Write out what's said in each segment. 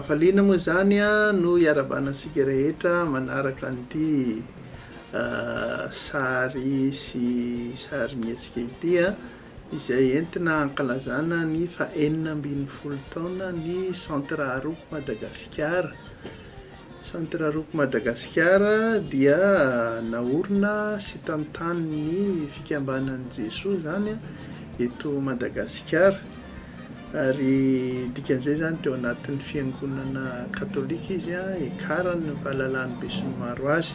Hafaliana moa izany no hiarabana antsika rehetra manaraka an'ity sary sy sarin'ny hetsika ity izay entina hankalazana ny fahenina ambin'ny folo taonan'ny Centre Aroco Madagasikara. Centre Rock Madagasikara dia naorina sy tantanin'ny fikambanan'i Jesoa izany eto Madagasikara ary dikan'izay izany teo anatin'ny fiangonana katolika izy, Ecar no fahalalan'ny besinimaro azy.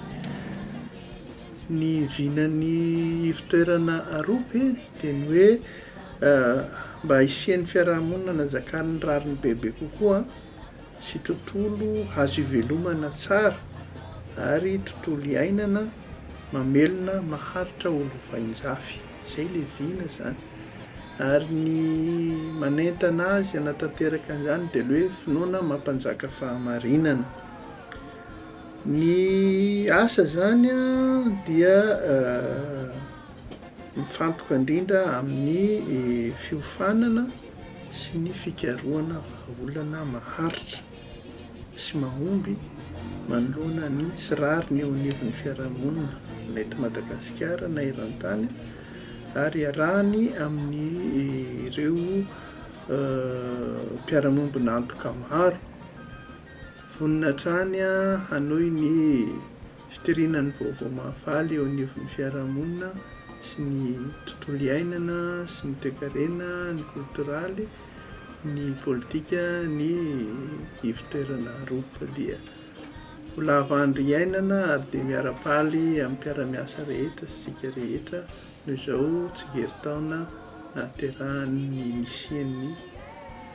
Ny vinan'ny ivotoerana Arope dia ny hoe mba hisian'ny fiarahamonina anazakan'ny rariny bebe kokoa. sy tontolo azo ivelomana tsara ary tontolo iainana mamelona maharitra ho lovainjafy. Izay ilay vina izany. Ary ny manentana azy hanatanteraka an'izany dia ilay hoe finoana mampanjaka fahamarinana. Ny asa izany dia mifantoka indrindra amin'ny fiofanana sy ny fikarohana vahaolana maharitra sy mahomby manoloana ny tsy rariny eo anivon'ny fiarahamonina, na eto Madagasikara na eran-tany, ary iarahany amin'ireo mpiara-miombon'antoka maro vonona hatrany hanohy ny. Fitoriana ny vaovao mahafaly eo anivon'ny fiarahamonina sy ny tontolo iainana sy ny toekarena, ny koltoraly, ny politika, ny ivotoerana roa valiha. Ho lava andro iainana ary dia miara-paly amin'ny mpiara-miasa rehetra sy isika rehetra noho izao tsingerintaona nahaterahan'ny nisian'ny.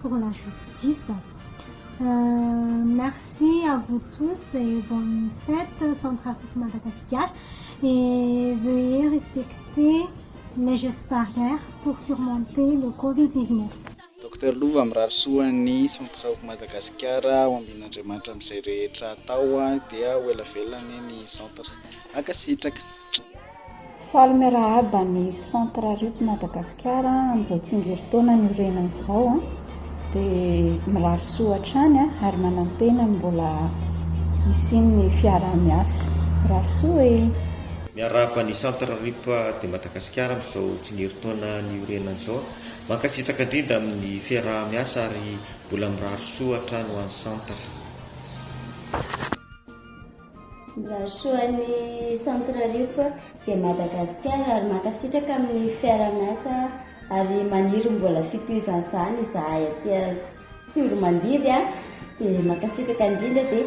pour la justice merci à vous tous et bonne fête sans trafic Madagascar et veuillez respecter les gestes barrières pour surmonter le covid 19. Docteur Lova mirary soa an'i Sans Traoc Madagascar ho ambin'Andriamanitra amin'izay rehetra atao dia ho ela velona anie ny centre. Mankasitraka. Faly miarahaba ny centre RIP Madagasikara amin'izao tsingerin-taona niorenany izao. Dia mirary soa hatrany ary manantena ny mbola hisian'ny fiaraha-miasa. Mirary soa e! Miarahaba ny centre RIP de Madagascar amin'izao tsingerin-taona niorenany izao. Mankasitraka indrindra amin'ny fiaraha-miasa ary mbola mirary soa hatrany ho an'ny centre. Mirarisoa ny centre RIP de Madagascar ary mankasitraka amin'ny fiara-miasa ary maniry mbola fitohizan'izany izahay aty Tsiromandidy a! dia mankasitraka indrindra dia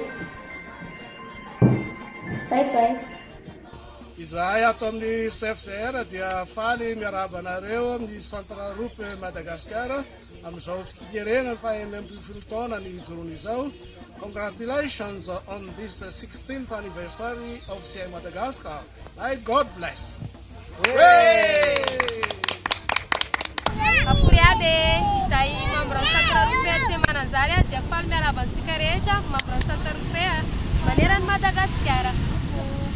bye bye. Izahay ato amin'ny CFCR dia faly miarahaba anareo amin'ny centre RIP Madagascar Amin'izao fitsingerenan'ny faha enina ambin'ny folo taona ny hijoroany izao, Congratulations on this sixteenth anniversary of CI Madagascar ay God bless! Akory aby e! Izay membre ny Centre Européen tsy mananjary azy dia faly miarahaba antsika rehetra membre ny Centre Européen maneran'i Madagasikara.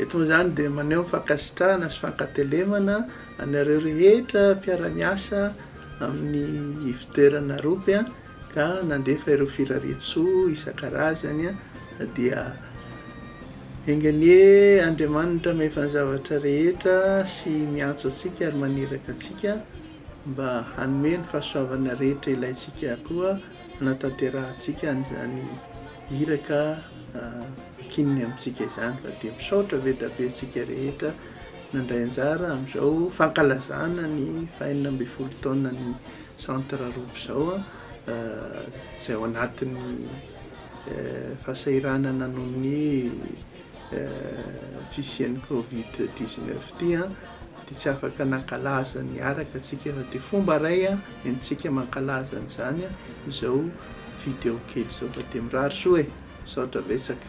Eto amin'izany dia maneho ny fankasitrahana sy fankatelemana anareo rehetra mpiara-miasa amin'ny ivotoeran'ny Arop. ka nandefa ireo firarian-tsoa isan-karazany dia enga anie Andriamanitra Miefan'ny zavatra rehetra sy miantso antsika ary maniraka antsika mba hanome ny fahasoavana rehetra ilaintsika koa hanatanterahantsika an'izany iraka akininy amintsika izany fa dia misaotra be da be antsika rehetra nandray anjara amin'izao fankalazana ny fahenina ambin'ny folo taonan'ny Centre roa izao izay ao anatin'ny fahasahiranana noho ny fisian'ny covid dix neuf ity dia tsy afaka nankalaza niaraka tsika fa dia fomba iray entintsika mankalaza an'izany izao video kely izao fa dia mirary soa e! Misaotra betsaka.